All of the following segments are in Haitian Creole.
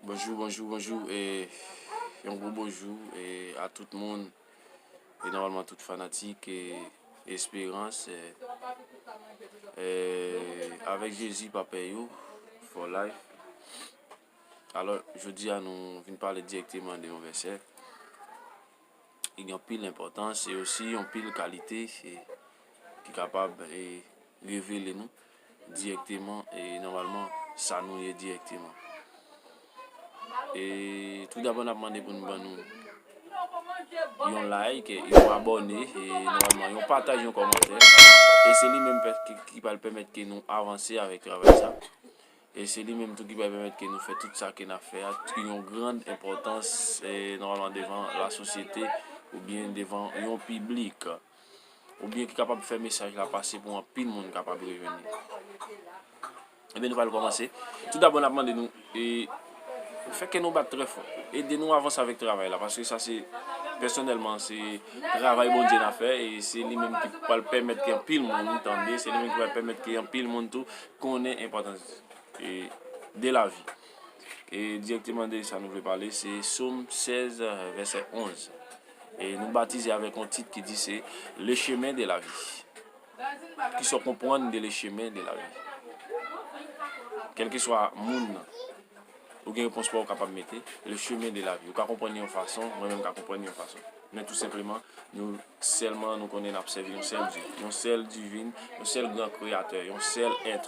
Bonjou bonjou bonjou e yon gwo bonjou e a tout moun e nòmalman tout fanatik e esperans e avèk jezi papè yo fò layf alò jodi a nou vin pale direkteman de yon vèsè ki gen anpil enpòtans e osi anpil kalite ki kapab e revele nou. dirèkteman e nòmalman sa nou ye dirèkteman. E tou dabò n ap mande pou nou ban nou yon like, yon abòne e nòmalman yon pataj, yon kòmantè. E se li menm ki pral pèmèt ke nou avanse avèk travay sa. E se li menm tou ki pral pèmèt ke nou fè tout sa ke n ap fè a ki yon gran enpòtans e nòmalman devan lasosyete oubyen devan yon piblik. oubyen ki kapab fè mesaj la pase pou anpil moun kapab rejwenn li. Ebyen nou pral kòmanse. Tou dabò n ap mande nou e fè kè nou bat trè fò. Ede nou avanse avèk travay la paske sa se pèsonèlman se travay Bondye n ap fè e se li menm ki pral pèmèt ke anpil moun tande, se li menm ki pral pèmèt ke anpil moun tou konnen enpòtans de lavi. E dirèkteman de sa nou vle pale se Som 16 vèsè 11. E nou batize avèk yon tit ki di se Le chemin de la vie. Kisa w konprann de le chemin de la vie? Kèlkeswa moun nan, ou gen repons pa w kapab mete, le chemin de la vie. Ou ka konprann li yon fason, mwen menm m ka konprann li yon fason. Men tou senpleman, nou sèlman nou konnen n ap sèvi yon sèl Dye, yon sèl Divin, yon sèl Gran Kreyatè, yon sèl Èt.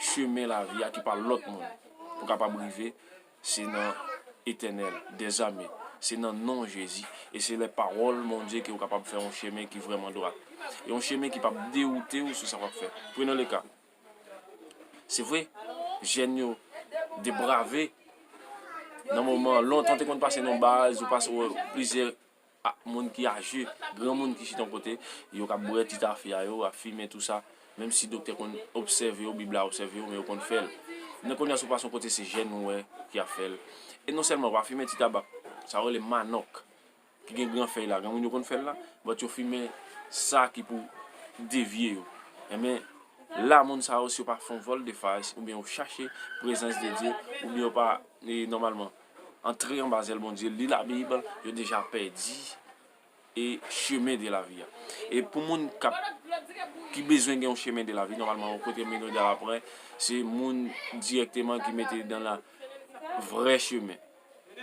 Chemen lavi a ki pa lòt moun pou kapab rive se nan Etènèl dèzame, se nan non Jezi e se lè pawòl Bondye ke ou kapab fè yon chemen ki vrèman dwat. Yon chemen ki pap dewoute ou sou sa wap fè. Prenan le ka, se vre jèn yo de brave nan moman lontan te konn pase nan baz ou pase plizyè. ak moun ki aje, granmoun ki chita yon kote, yo kab bwè ti tafya yo, ap fimen tou sa, menm si doktè konn obsève yo, bib la obsève yo men yo konn fèl. Men kounya si w pase yon kote se jèn ou wè ki ap fèl. E non sèlman yo pa fimen ti tabak, sa yo rele manòk ki gen gran fèy la, granmoun yo konn fèl la, but yo fimen sa ki pou devye yo. Enben la moun sa yo si yo pa fè yon vòl de fas oubyen yo chache prezans de Dye oubyen yo pa nòmalman. antre anba zèl Bondye, li labib, yo deja pèdi e chemen de lavi a. E pou moun kap ki bezwen gen yon chemen de lavi, nòmalman yon kote moun yo dal apre, se moun dirèkteman ki mete li dan la vrè chemen.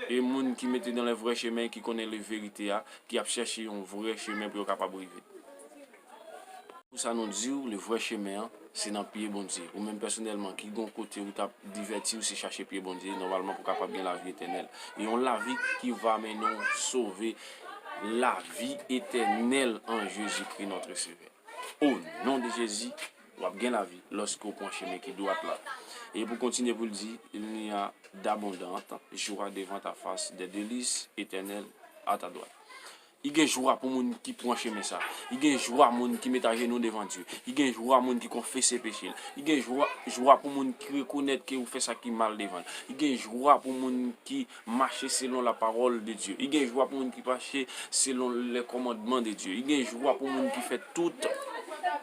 E moun ki mete dan le vrè chemen ki konnen le verite a, ki ap chèche yon vrè chemen pou yo kapab rive. Pou sa nou diw le vrè chemen an se nan pye Bondye ou menm pèsonèlman ki gon kote ou tap divètiw se chache pye Bondye nòmalman pou kapab gen lavi etènèl e yon lavi ki va mennenw sove lavi etènèl an Jezikri notre sevè o non de Jezi wap gen lavi lòske ou pwan chemen ki dwat la e pou kontinye poul di il n'y a d'abondante joie devant ta face des delices etènèl a ta dwat. I gen jwa pou moun ki pran chemen sa. I gen jwa moun ki met ajenou devan Dye. I gen jwa moun ki konfese peche l. I gen jwa pou moun ki rekonèt ke ou fè sa ki mal devan l. I gen jwa pou moun ki mache selon lapawòl de Dye. I gen jwa pou moun ki mache selon lèkòmandman de Dye. I gen jwa pou moun ki fè tout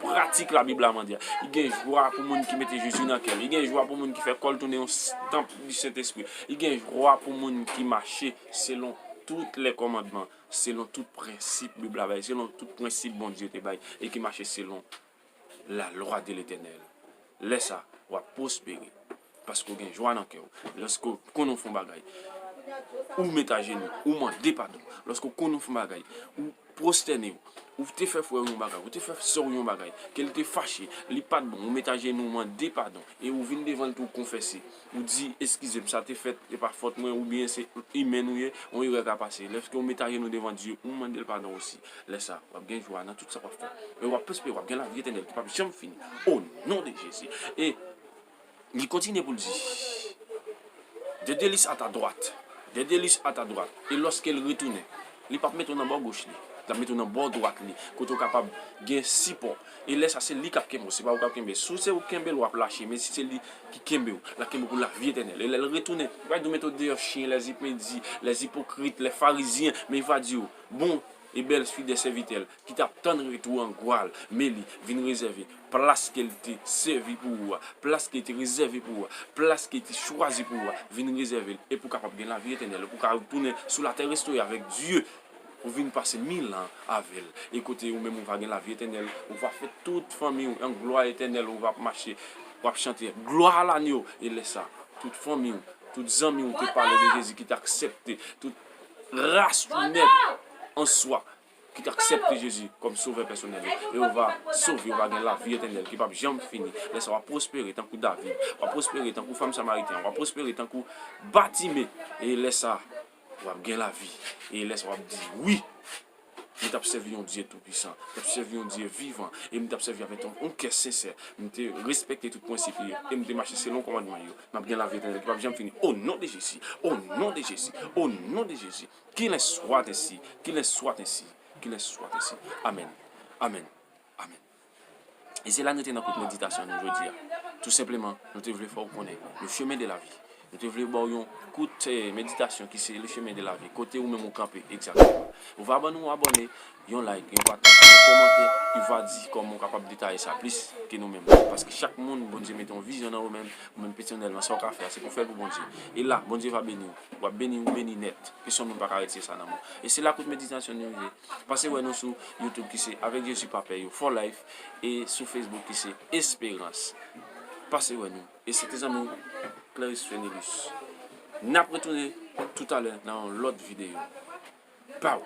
pratik Labib la mande a. I gen jwa pou moun ki mete Jezi nan kè l. I gen jwa pou moun ki fè kò l tounen yon tanp di Sentespri. I gen jwa pou moun ki mache Selon tout lè kòmandman, selon tout prensip Bib la bay, selon tout prensip Bondye te bay e ki mache selon la lwa de Letènèl. Lè sa, w ap pwospere paske w gen jwa nan kè w. Lèske w konn ou fè yon bagay, ou met ajenou, ou mande padon. Lèske w konn ou fè yon bagay, ou. Pwostène w. Ou te fè frè w yon bagay, ou te fè sè w yon bagay, kè l te fache, li pa t bon, ou met ajenou w mande padon, e ou vin devan l tou w konfese, ou di, Eskize m, sa te fèt, e pa fòt mwen, oubyen se imèn ou ye, yon erè ka pase. Lèske ou met ajenou devan Dye, ou mande l padon osi. Lè sa, w ap gen jwa nan tout sa w ap fè, e w ap pwospere, w ap gen lavi etènèl ki p ap janm fini, o non de Jezi. E. Li kontinye pou l di, De Delis a ta dwat, De Delis a ta dwat, e lòske l retounen, li p ap mete w nan bò goch li, li ap mete w nan bò dwat li, kote w kapab gen sipò. E lè sa, se li k ap kenbe w, se pa ou k ap kenbe. Si se ou k kenbe l, w ap lache, men si se li ki kenbe w, l ap kenbe w pou lavi etènèl. E lè l retounen, li va di w, Mete w deyò, chyen, lèzipedi, lèzipokrit, lèfarizyen, men li va di w, Bon. E bèlfi de sèvitè l ki t ap tann retou an gwa l, men li vin rezève plas ke l te sèvi pou ou a, plas ke l te rezève pou ou a, plas ke l te chwazi pou ou a, vin rezève l, e pou w kapab gen lavi etènèl, pou w ka retounen sou latè restore avèk Dye, pou w vin pase mil an avè l, e kote ou menm ou va gen lavi etènèl, ou va fè tout fanmi ou an glwa etènèl, ou va ap mache, w ap chante glwa a lanyo, e lè sa a, tout fanmi ou, tout zanmi ou te pale de Jezi ki te aksepte, tout. Gras ou nèt an swa ki ta aksepte Jezi kòm Sovè pèsonèl ou, e ou va sove, ou va gen lavi etènèl ki pap janm fini. Lè sa w ap pwospere tankou David, w ap pwospere tankou fanm Samariten an, w ap pwospere tankou Batime, e lè sa w ap gen lavi, e lè sa w ap di wi. m t ap sèvi yon Dye toupisan, m t ap sèvi yon Dye vivan, e m t ap sèvi avèk yon kè sensè. M te respekte tout prensip li yo, e m te mache selon kòmandman li yo. M ap gen lavi etènèl ki pap janm fini, o non de Jezi! O non de Jezi! O non de Jezi! Qu'il en soit ainsi! Qu'il en soit ainsi! Qu'il en soit ainsi! Amèn! Amèn! Amèn! E se la nou te nan kout meditasyon nou jodi a. Tou senpleman, nou te vle fè w konnen le chemin de la vie. Nou te vle ba w yon kout meditasyon ki se le chemin de la vie, kote ou menm ou kanpe egzakteman. Ou va ban nou yon abòne, yon like, yon pataj, yon kòmantè, ou va di kòman ou kapab detaye sa plis ke nou menm. Paske chak moun, Bondye mete yon vizyon nan yo menm, ou menm Petyonèl nan sa w ka fè a, se pou w fè l pou Bondye. E la, Bondye va beni w. W ap beni, ou beni nèt. Pesonn moun pa ka retire sa nan men w. E se la kout meditasyon nou rive. Pase wè nou sou YouTube ki se Avec Jésus Pa Pè Yo For Life e sou Facebook ki se Espérance. Pase wè nou. E se te zanmi w Cleris Fenelus. N ap retounen toutalè nan yon lòt videyo. Baww!